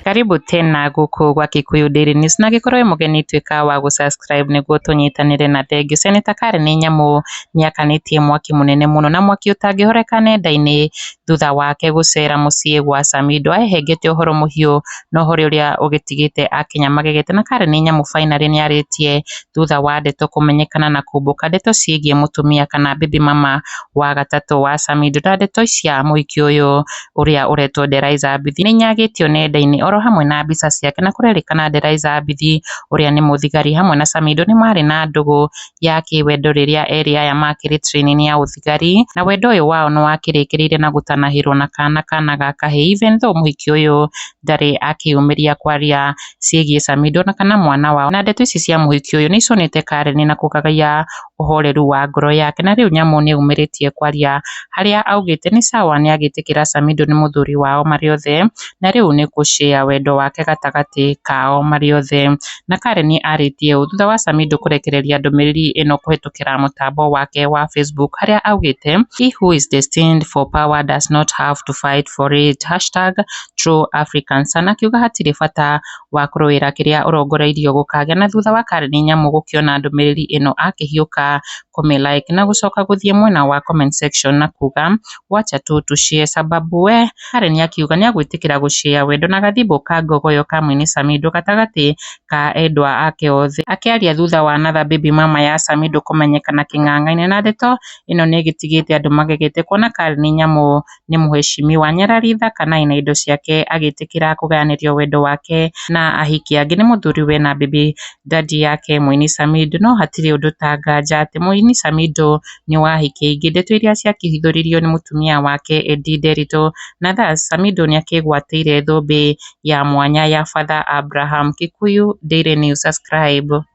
Karibu tena gũkũ gwa Kikuyu Daily News na angĩkorwo wĩ mũgeni tuĩka wa gũ subscribe nĩguo tũnyitanĩre na thengiũ. Senator Karen nĩ nyamũ nĩakanĩtie mwaki mũnene mũno na mwaki ũtangĩhoreka nenda-inĩ thutha wake gũcera mũciĩ gwa Samido ahehengete ũhoro mũhiũ no harĩ ũrĩa ũgĩtigĩte akenya magegete na karĩ nĩ nyamũ finally nĩ arĩtie thutha wa ndeto kũmenyekana na kũmbũka ndeto ciĩgiĩ mũtumia kana baby mama wa gatatũ wa Samido na ndeto cia mũhiki ũyũ ũrĩa ũretwo Deraiza Mbithi nĩ inyagĩtio nenda-inĩ oro hamwe na mbica ciake na kũrerĩkana Deraiza Mbithi ũrĩa nĩ mũthigari hamwe na Samido nĩ marĩ na ndũgũ ya kĩwendo rĩrĩa erĩ aya makĩrĩ training ya ũthigari, na wendo ũyũ wao nĩ wakĩrĩkĩrĩire na gũtanahĩrwo na kana kana ga kahĩĩ even though mũhiki ũyũ ndarĩ akĩyũmĩria kwaria ciĩgiĩ Samido na kana mwana wao. Na ndeto ici cia mũhiki ũyũ nĩ icũnĩte Karen na kũgagaia ũhoreru wa ngoro yake na rĩu nyamũ nĩ yumĩrĩtie kwaria harĩa augĩte nĩ sawa nĩ agĩtĩkĩra Samido nĩ mũthuri wao marĩ othe na rĩu nĩ kũcea wendo wake gatagatĩ kao marĩ othe. Na Karen arĩtie ũũ thutha wa Samidoh kũrekereria ndũmĩrĩri ĩno kũhĩtũkĩra mũtambo wake wa Facebook harĩa augĩte He who is destined for power does not have to fight for it#TrueAfricans na akiuga hatirĩ bata wa kũrũĩra kĩrĩa ũrongoreirio gũkagĩa na thutha wa Karen Nyamu gũkĩona ndũmĩrĩri ĩno akĩhiũka kũmĩ like na gũcoka gũthiĩ mwena wa comment section na kuuga wacha tu tu share sababu we Harĩ nĩakiuga nĩagwĩtĩkĩra gũ share wendo na gathimbũ ka ngogoyo ka mwene Samido gatagatĩ ka endwa ake othe. Akĩaria thutha wa another baby mama ya Samido kũmenyekana kĩng'ang'a-inĩ na ndeto ĩno nĩgĩtigĩte andũ magegete kuona Carl nĩ nyamũ nĩ mũhecimiwa Nyarariitha kana ena indo ciake agĩtĩkĩra kũgayanĩrio wendo wake na ahiki angĩ nĩ mũthuriwe na baby daddy yake mũini Samido no hatirĩ ũndũ ta nganja atĩ mũini Samido nĩ wa ahiki aingĩ ndeto iria ciakĩhithũririo nĩ mũtumia wake Eddie Nderitu na thus Samido nĩ akĩgwatĩire thũmbĩ ya mwanya ya father Abraham Kikuyu Daily News subscribe.